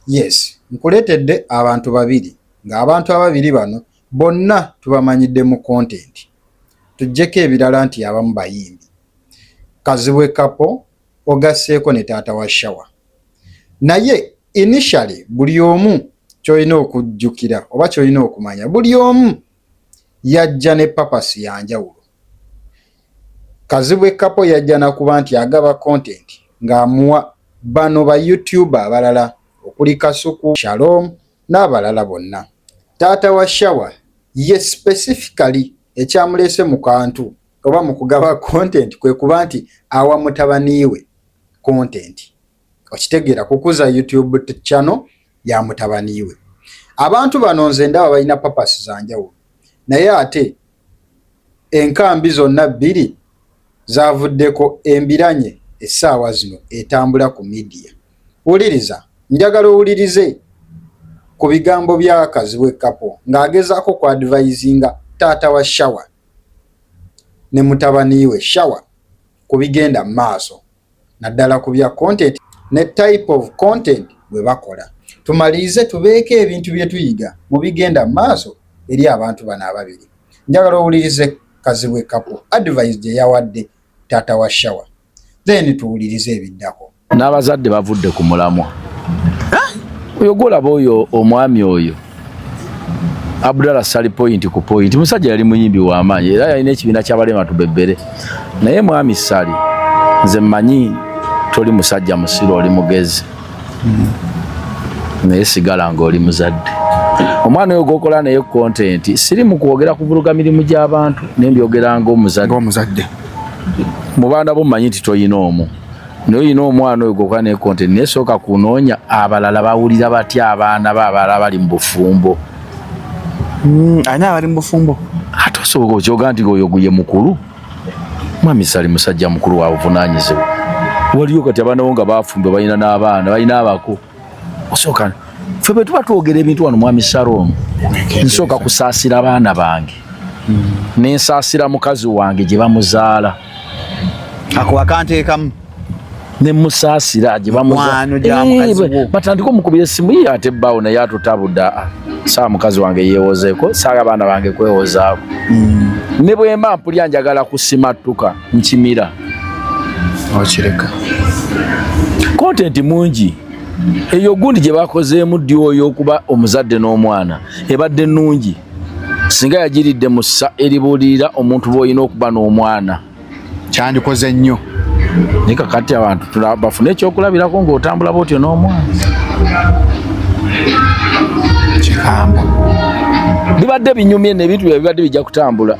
Yes, nkuletedde abantu babiri nga abantu ababiri bano bonna tubamanyidde mu content. Tujjeko ebirala nti abamu bayimbi. Kazibwe Kapo ogasseeko ne taata wa Shawa. Naye initially buli omu kyolina okujjukira oba kyolina okumanya buli omu yajja ne papasi ya njawulo. Kazibwe Kapo yajja nakuba nti agaba content ng'amuwa bano ba YouTuber abalala okuli Kasuku, Shalom n'abalala bonna. Taata wa Shawa ye specifically ekyamuleese mu kantu oba mu kugaba content kwe kuba nti awa mutabaniiwe content. okitegeera kukuza youtube channel ya mutabani we abantu bano nze ndaba balina papasi za njawulo naye ate enkambi zonna bbiri zavuddeko embiranye essaawa zino etambula ku midiya wuliriza njagala owulirize ku bigambo bya kazibwe kapo ng'agezaako ku advisinga taata wa shawa ne mutabani we shawa ku bigenda mu maaso naddala ku bya content ne type of content bwe bakola. Tumalirize tubeeko ebintu bye tuyiga mu bigenda mu maaso eri abantu bano ababiri. Njagala owulirize Kazibwe Kapo advice gye yawadde taata wa Shawa, then tuwulirize ebiddako. N'abazadde bavudde ku mulamwa. Oyo gwolaba oyo omwami oyo. Abdalla Sali point ku point. Musajja yali muyimbi wa maanyi era yalina ekibiina ky'abalema tubebere. Naye mwami Sali nze manyi toli musajja musiru oli mugezi. Naye sigala nga oli muzadde. Omwana oyo gokola naye content siri mu kwogera kuvuluga mirimu gy'abantu naye mbyogera ng'omuzadde. Ng'omuzadde. Mu baana bo manyi nti toyina omu. naye olina omwana oyo goka ne content naye sooka kunoonya abalala bawulira batya abaana be abalala bali mu bufumbo hmm, ani abali mu bufumbo ate osoboka okyoga nti oyo guye mukulu mwami sali musajja mukulu wabuvunaanyizibwa waliyo kati abaana bo nga bafumbo balina n'abaana balina abako osooka ffe bwe tuba twogera ebintu wano mwami shalom nsooka kusaasira abaana bange nensaasira mukazi wange gye bamuzaala ako akanteekamu nemusaasira gye bamubatandika eh, omukubira esimu ye ate bbaawo naye atutabuda ah, saa mukazi wange yeewozeeko saaga abaana bange kwewozaako hmm. ne bwemba mpulya njagala kusimattuka nkimira okireka kontenti mungi eyo gundi gye bakozeemu ddi oyo okuba omuzadde n'omwana ebadde nnungi singa yagiridde mu ssa eribuulirira omuntu bw'olina okuba n'omwana kyandikoze nnyo naye kakati abantu bafune ekyokulabirako ng'otambula bwotyo n'omwana kikamba bibadde binyumye nebintu bya bibadde bijja kutambula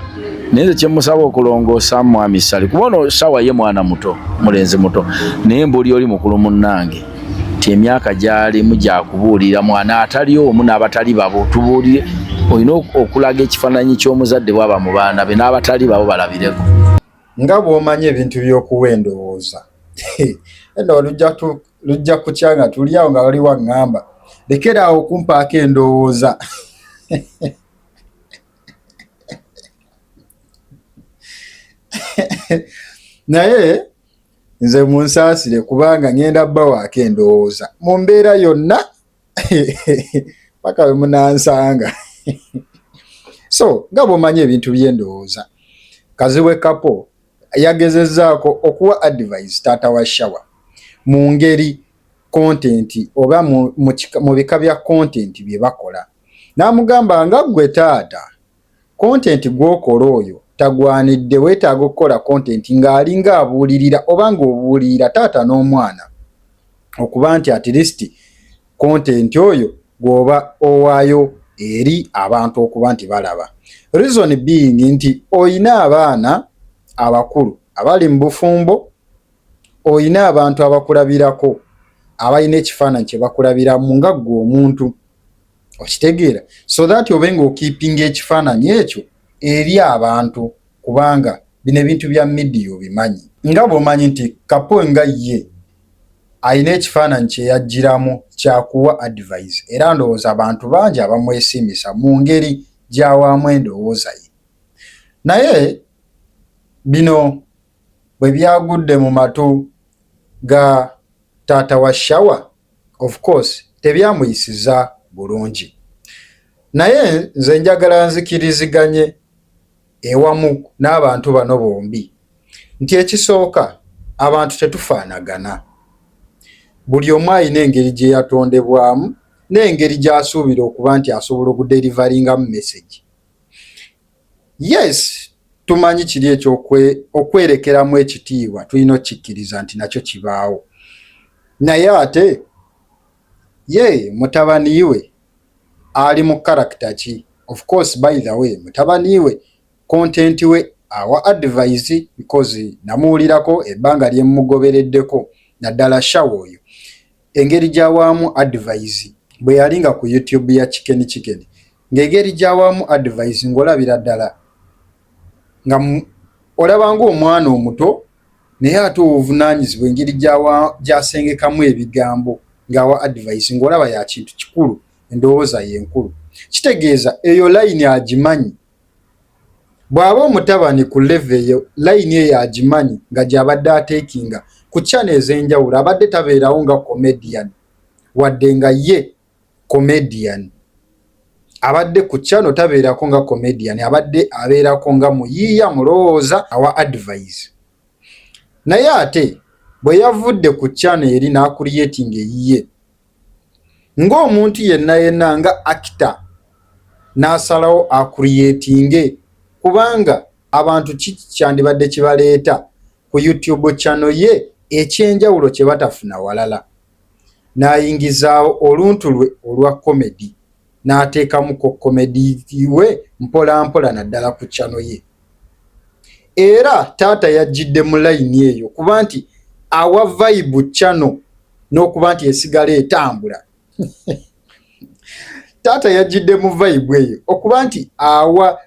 naye nze kyemusaba okulongoosa mwami sali kuba ono sawa ye mwana muto mulenzi muto naye mbuli oli mukulu munnange nti emyaka gyalimu gyakubuulira mwana atali omu n'abatali babo tubuulire olina okulaga ekifaananyi ky'omuzadde bwaba mu baana be n'abatali babo balabireko nga bw'omanyi ebintu by'okuwa endowooza eno lujja kutya nga tuli awo nga waliwo aŋŋamba lekeraawo okumpaako endowooza naye nze munsaasire kubanga ŋenda bawaako endowooza mu mbeera yonna paka we munansanga so nga bwomanyi ebintu by'endowooza kaziwe kapo yagezezaako okuwa advise taata wa shawa mu ngeri kontenti oba mu bika bya kontenti bye bakola N'amugamba nga ggwe taata kontenti gw'okola oyo tagwanidde weetaaga okukola kontenti ng'alinga abuulirira oba ng'obuulirira taata n'omwana okuba nti atilisiti kontenti oyo gw'oba owaayo eri abantu okuba nti balaba. Reason being nti olina abaana abakulu abali mu bufumbo, olina abantu abakulabirako abalina ekifaananyi kye bakulabiramu nga ggwe omuntu. okitegeera so that obe nga okiipinga ekifaananyi ekyo eri abantu kubanga bino ebintu bya midiya obimanyi nga bwomanyi nti kapo nga ye alina ekifaananyi kyeyajjiramu kyakuwa advise era ndowooza abantu bangi abamwesimisa mu ngeri gyawaamu endowooza ye naye bino bwe byagudde mu matu ga taata wa Shawa of course tebyamuyisiza bulungi naye nze njagala nzikiriziganye ewamu n'abantu bano bombi nti ekisooka abantu tetufaanagana buli omu alina engeri gye yatondebwamu n'engeri gy'asuubira okuba nti asobola okuderivaringamu mesegi Yes, tumanyi kiri ekyo okwerekeramu ekitiibwa tulina okikkiriza nti nakyo kibaawo naye ate ye mutabani we ali mu karakita ki of course by the way mutabani we kontenti we awa advise because namuwulirako ebbanga lyemumugobereddeko naddala shawa oyo Engeri gy'awaamu adivayizi bwe yali nga ku YouTube ya Chicken Chicken ng'egeri gy'awaamu adivayizi ng'olabira ddala nga olaba ng'omwana omuto naye ate obuvunaanyizibwa engeri gy'asengekamu ebigambo ng'awa adivayizi ng'olaba ya kintu kikulu endowooza ye nkulu kitegeeza eyo layini agimanyi Bw'aba omutabani ku levo eyo, layini eyo agimanyi nga gy'abadde ateekinga ku ccano ez'enjawulo. Abadde tabeerawo nga comedian wadde nga ye comedian. Abadde ku ccano tabeerako nga comedian, abadde abeerako nga muyiiya, mulowooza, awa advise. Naye ate bwe yavudde ku ccano eri n'akuliyetinga eyiye, ng'omuntu yenna yenna nga akita n'asalawo akuriyetinge kubanga abantu kiki kyandibadde kibaleeta ku youtube chano ye ekyenjawulo kye batafuna walala n'ayingizaawo oluntu lwe olwa komedi n'ateekamuko komedi we mpolampola naddala ku chano ye era taata yajjidde mu layini eyo kuba nti awa vayibu cano n'okuba nti esigala etambula taata yajjidde mu vayibu eyo okuba nti awa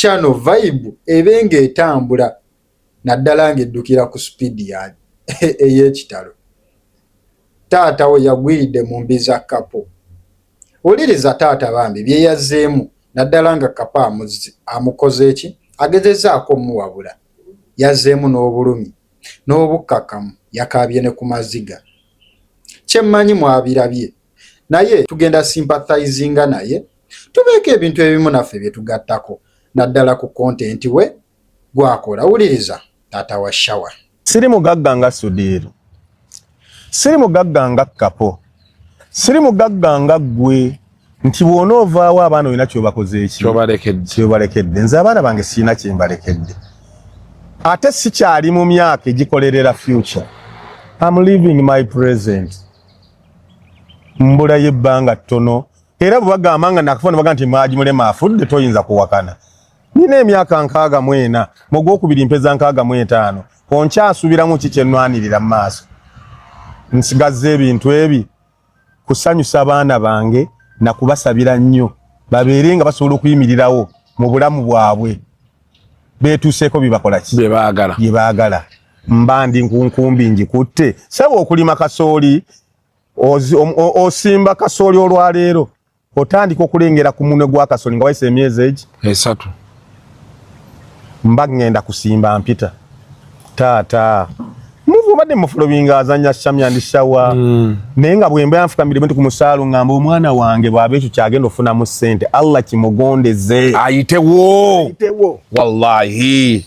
cano vayibu ebe nga etambula naddala ng'eddukira ku sipiidi ya ey'ekitalo taata we yagwiridde mu mbi za kapo Wuliriza taata bambi bye yazzeemu naddala nga kapa amukoze eki agezezzaako omuwabula. Yazzeemu n'obulumi n'obukkakkamu yakaabye ne ku maziga. Kye mmanyi mwabirabye naye tugenda sympathizinga naye tubeeko ebintu ebimu naffe bye tugattako naddala ku kontenti we gwakola wuliriza taata wa shawa siri mugagga nga sudiiru siri mugagga nga kapo siri mugagga nga ggwe nti bwona ovaawo abaana olina kyobakozeekyobalekedde nze abaana bange sirina kyembalekedde ate sikyali mu myaka egikolerera future am living my present mbulayo ebbanga ttono era bwebagamba nga nakafo nebaga nti maji mulema afudde toyinza kuwakana Nina emyaka nkaaga mu ena, mu gwokubiri mpeza nkaaga mu etaano. Onkyasubiramu ki kye nnwanirira mu maaso? Nsigazza ebintu ebi kusanyusa abaana bange na kubasabira nnyo babeere nga basobola okuyimirirawo mu bulamu bwabwe beetuuseeko bibakola ki bye baagala bye baagala mba ndi nkunkumbi ngikutte saba okulima kasooli osimba kasooli olwaleero otandika okulengera ku munwe gwa kasoli nga wayise emyezi egi esatu mba ngenda kusimba mpita taata muvu obadde mufulobinga azanya shamya ndi shawa mm. naye nga bwemba yanfukamire bintu ku musaalu ngamba omwana wange bwaba ekyo kyagenda okufunamu ssente allah kimugondeze ayitewo ayitewo wallahi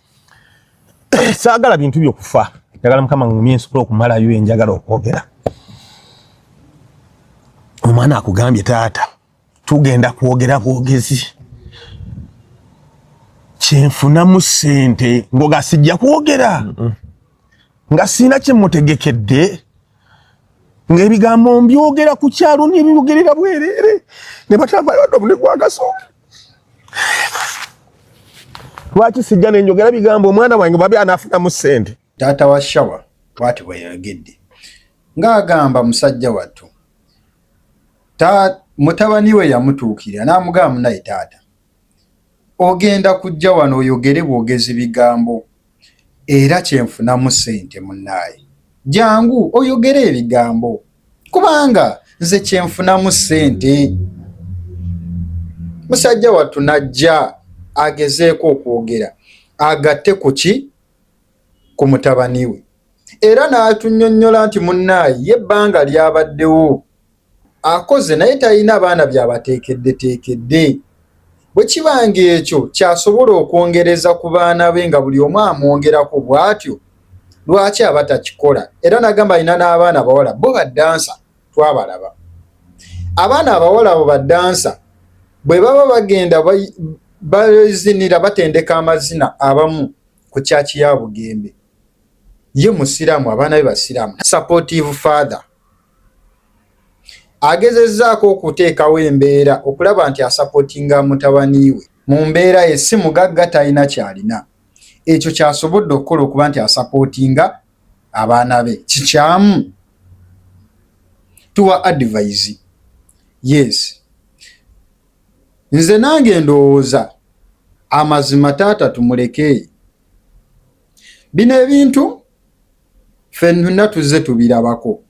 saagala bintu byokufa njagala mukama ngumye nsobola okumalayo enjagala okwogera omwana akugambye taata tugenda kwogera bwogezi kyenfunamu sente ngoga sijja kwogera nga sirina kyemutegekedde ng'ebigambo mbyogera ku kyalo nebyogerera bwereere ne batambayo wadde obune gwagasoka lwaki sijja nenjogera bigambo omwana wange babi anafunamu ssente taata wa shawa bwati bweyayogedde ng'agamba musajja wattu mutabani we yamutuukirira n'amugamba munaye taata Ogenda kujja wano oyogere bwogezi bigambo era kyenfunamu sente munaye jangu oyogere ebigambo kubanga nze kyenfunamu sente musajja wattu najja agezeeko okwogera agatte kuki ku mutabani we era n'atunyonnyola nti munaye ye bbanga lyabaddewo akoze naye talina baana byabateekeddeteekedde bwe kiba ng'ekyo kyasobola okwongereza ku baana be nga buli omu amwongerako bw'atyo lwaki aba takikola era nagamba alina n'abaana abawala bo baddansa twabalaba abaana abawala abo baddansa bwe baba bagenda bazinira batendeka amazina abamu ku kyaki ya bugembe ye musiraamu abaana be basiraamu supportive father agezezzaako okuteekawo embeera okulaba nti asapotinga mutabani we mu mbeera ye si mugagga talina kyalina ekyo kyasobodde okukola okuba nti asapotinga abaana be kikyamu tuwa advise yes nze nange ndowooza amazima taata tumuleke bino ebintu ffenna tuzze tubirabako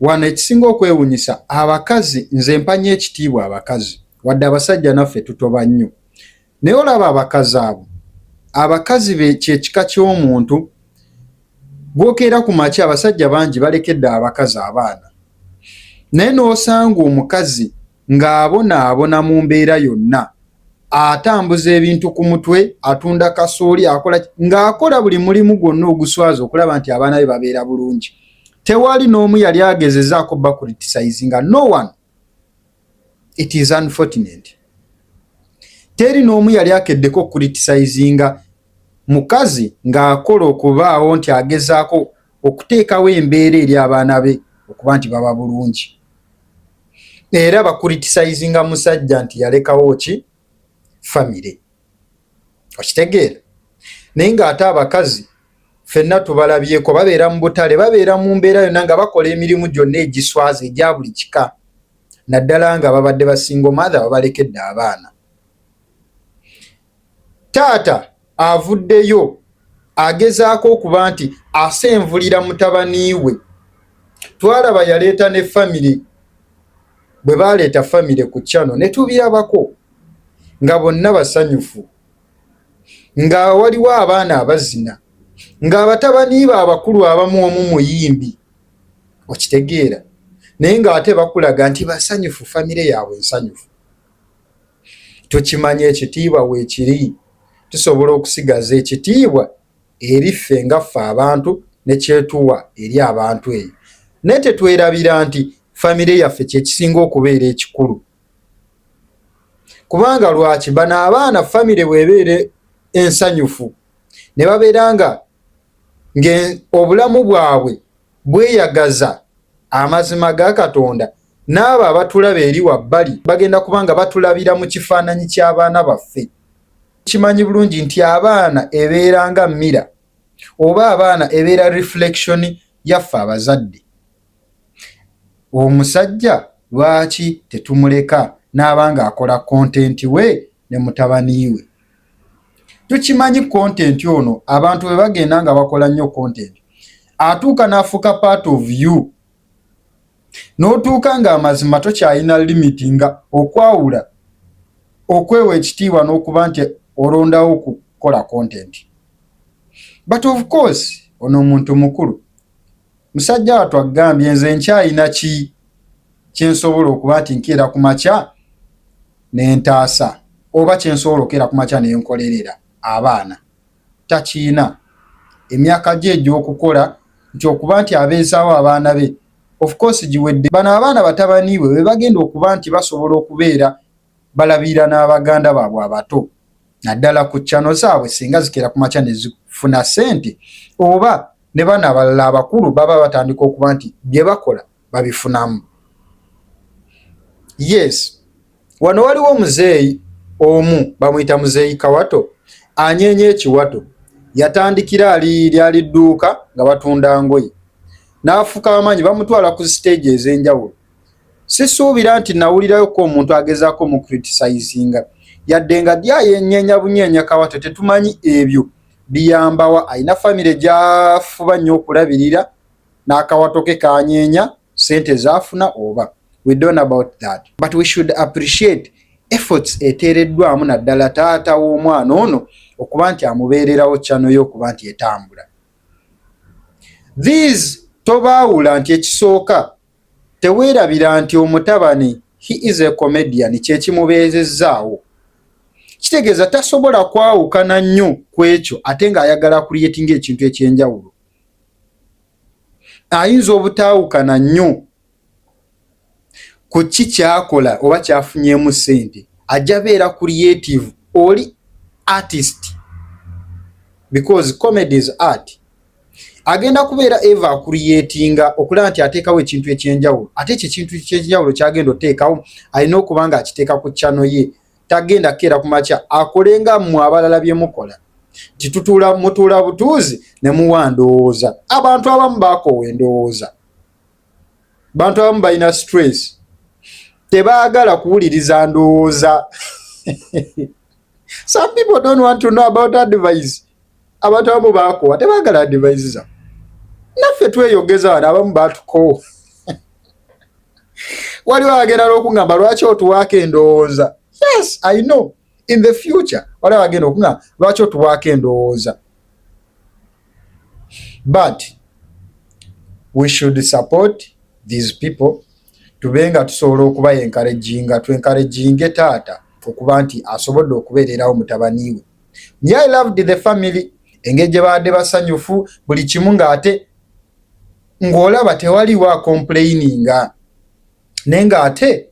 wano. Ekisinga okwewunyisa abakazi, nze mpanya ekitiibwa abakazi wadde abasajja naffe tutoba nnyo, naye olaba abakazi abo, abakazi be kyekika ky'omuntu gwokeera ku makya. Abasajja bangi balekedde abakazi abaana, naye n'osanga omukazi ng'abonaabona mu mbeera yonna atambuza ebintu ku mutwe atunda kasooli akola ng'akola buli mulimu gwonna oguswaza okulaba nti abaana be babeera bulungi tewali n'omu yali agezezaako bakuritisayizi nga no one it is unfortunate teri n'omu yali akeddeko okuritisayizi nga Mukazi ng'akola okubaawo nti agezaako okuteekawo embeera eri abaana be okuba nti baba bulungi. Era bakuritisayizinga musajja nti yalekawo ki famire. Okitegeera? Naye ng'ate abakazi fenna tubalabyeko babeera mu butale babeera mu mbeera yonna nga bakola emirimu gyonna egiswaza egya buli kika naddala nga babadde basinga omathe babalekedde abaana taata avuddeyo agezaako okuba nti asenvulira mutabani we twalaba yaleeta ne famire bwe baleeta famire ku kyano ne tubirabako nga bonna basanyufu nga waliwo abaana abazina ng'abatabaniiba abakulu abamu omu muyimbi okitegeera naye ng'ate bakulaga nti basanyufu famire yaabwe nsanyufu tukimanya ekitiibwa weekiri tusobola okusigaza ekitiibwa eri ffe nga ffe abantu ne kyetuwa eri abantu eyo naye tetwerabira nti famire yaffe kyekisinga okubeera ekikulu kubanga lwaki bano abaana famire bwebeere ensanyufu ne babeera nga ng'obulamu bwabwe bweyagaza amazima ga katonda N'abo abatulaba eri wabbali bagenda kuba nga batulabira mu kifaananyi ky'abaana baffe. Kimanyi bulungi nti abaana ebeera nga mira oba abaana ebeera reflection yaffe abazadde. Omusajja lwaki tetumuleka n'aba ng'akola content we ne mutabani we? Tukimanyi content ono abantu bwe bagenda nga bakola nnyo content atuuka n'afuuka part of you. n'otuuka ng'amazima tokyalina limiti nga okwawula okwewa ekitiibwa n'okuba nti olondawo okukola content but of course ono omuntu mukulu musajja watu agambye nze nkyalina ki kyensobola okuba nti nkeera ku makya nentaasa oba kyensobola okeera ku makya nenkolerera abaana takiyina emyaka gye egy'okukola nti okuba nti abeezaawo abaana be of course giwedde. Bano abaana batabani bwe bebagenda okuba nti basobola okubeera balabirira n'abaganda baabwe abato naddala ku chano zaabwe singa zikeera ku makya nezifuna sente oba ne bano abalala abakulu baba batandika okuba nti bye bakola babifunamu. Yes, wano waliwo omuzeeyi omu bamuyita muzeeyi Kawato anyeenya ekiwato, yatandikira ali lyali dduuka nga batunda ngoye n'afuka amaanyi, bamutwala ku siteegi ez'enjawulo. Sisuubira nti nawulirayo ko omuntu agezaako mu criticizinga yadde nga ddi ayenyeenya bunyeenya Kawato, tetumanyi ebyo biyambawa. Alina famire gy'afuba nnyo okulabirira n'akawato ke kanyeenya sente zaafuna oba we don't about that but we should appreciate efforts eteereddwamu naddala taata w'omwana ono okuba nti amubeererawo kyano yo okuba nti etambula these tobaawula nti ekisooka teweerabira nti omutabani he is a comedian kyekimubeezezzaawo kitegeeza tasobola kwawukana nnyo ku ekyo ate ng'ayagala creatinga ekintu ekyenjawulo ayinza obutaawukana nnyo ku ki kyakola oba kyafunyeemu ssente ajja beera creative oli artist because comedy is art agenda kubeera eva akuriyetinga okulaba nti ateekawo ekintu ekyenjawulo ate ekyo ekintu kyenjawulo kyagenda oteekawo alina okuba nga akiteeka ku kyano ye tagenda keera ku makya akole nga mmwe abalala bye mukola nti tutuula mutuula butuuzi ne muwa ndowooza abantu abamu baakoowa endowooza bantu abamu balina stress tebaagala kuwuliriza ndowooza some people don't want to know about advice abantu abamu bakowa tebagala adivise za naffe tweyogeza wano abamu batukowa waliwo agenda nokuŋamba lwaki otuwaako endowooza yes i know in the future waliwo agenda okuŋamba lwaki otuwaako endowooza but we should support these people tube nga tusobola okuba enkarejinga twenkarejinge taata okuba nti asobodde okubeererawo mutabaniwe Nye I loved the family engeri gye baadde basanyufu buli kimu ng'ate ng'olaba tewaliwo akompuleyininga naye ng'ate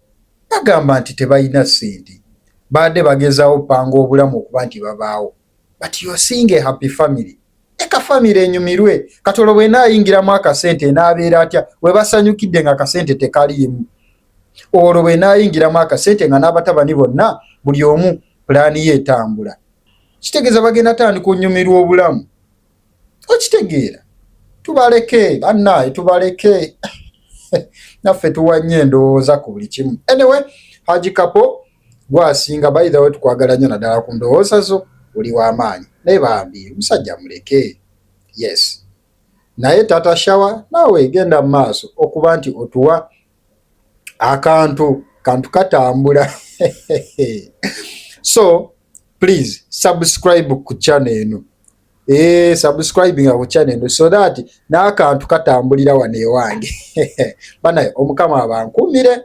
bagamba nti tebalina ssente baadde bagezaawo panga obulamu okuba nti babaawo but you're seeing a happy family eka famire enyumirwe kati olwo bwena ayingiramu akasente enaabeera atya webasanyukidde nga akasente tekaliimu olwo bwena ayingiramu akasente nga n'abatabani bonna buli omu pulaani ye etambula kitegeeza bagenda tandika onyumirwa obulamu okitegeera tubaleke bannaye tubaleke naffe tuwanye endowooza ku buli kimu anyway haji kapo Gwe asinga by the way tukwagala nnyo naddala ku ndowooza zo oli wa maanyi naye bambi omusajja muleke yes naye tata shawa naawe genda mu maaso okuba nti otuwa akantu kantu katambula so please subscribe ku channel eno ee eh, subscribe nga ku channel eno so that n'akantu katambulira wano ewange banaye omukama abankumire